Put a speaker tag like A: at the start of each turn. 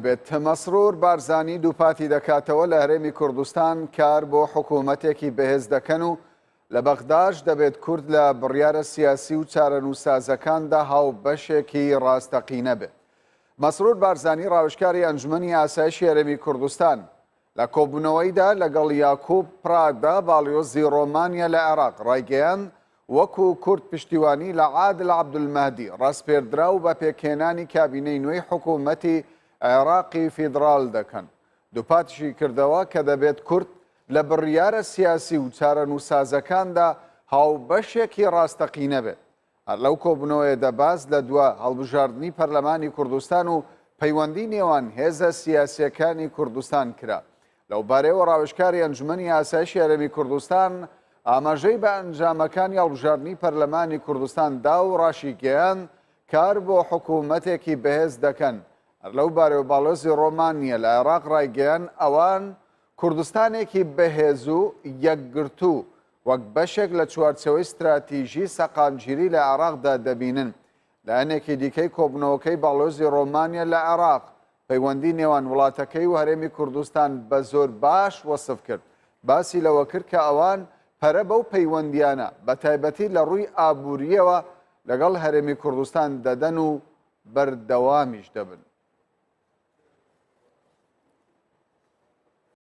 A: بێت، مەسرور بارزانی دووپاتی دەکاتەوە لە هەرێمی کوردستان کار بۆ حکوومەتێکی بەهێز دەکەن و لە بەغداش دەبێت کورد لە بڕیارە سیاسی و چارەنووسسازەکاندا هاوبەشێکی ڕاستەقینە بێت. مەسرور بارزانی ڕاوێژکاری ئەنجومەنی ئاسایشی هەرێمی کوردستان، لە کۆبوونەوەیدا لەگەڵ یاکوب پرادا باڵیۆزی ڕۆمانیا لە عێراق ڕایگەیاند، وەکو کورد پشتیوانی لە عادل عەبدولمەهدی ڕاسپێردراو بە پێکهێنانی کابینەی نوێی حکوومەتی عێراقی فیدڕال دەکەن. دووپاتیشی کردەوە کە دەبێت کورد لە بڕیارە سیاسی و چارەنووسازەکاندا هاوبەشێکی ڕاستەقینە بێت. هەر لەو کۆبوونەوەیەدا باس لە دوا هەڵبژاردنی پەرلەمانی کوردستان و پەیوەندی نێوان هێزە سیاسییەکانی کوردستان کرا. لەو بارەیەوە ڕاوێژکاری ئەنجومەنی ئاسایشی هەرێمی کوردستان ئاماژەی بە ئەنجامەکانی هەڵبژاردنی پەرلەمانی کوردستان دا و ڕاشیگەیاند کار بۆ حکوومەتێکی بەهێز دەکەن. هەر لەو بارەوە باڵێزی ڕۆمانیە لە عێراق ڕایگەیان ئەوان کوردستانێکی بەهێز و یەکگرتوو وەک بەشێک لە چوارچێوەی ستراتیژی سەقامگیری لە عێراقدا دەبینن. لایەنێکی دیکەی کۆبوونەوەکەی باڵیۆزی ڕۆمانیا لە عێراق، پەیوەندی نێوان وڵاتەکەی و هەرێمی کوردستان بە زۆر باش وەسف کرد. باسی لەوە کرد کە ئەوان پەرە بەو پەیوەندییانە، بە تایبەتی لە ڕووی ئابوورییەوە لەگەڵ هەرێمی کوردستان دەدەن و بەردەوامیش دەبن.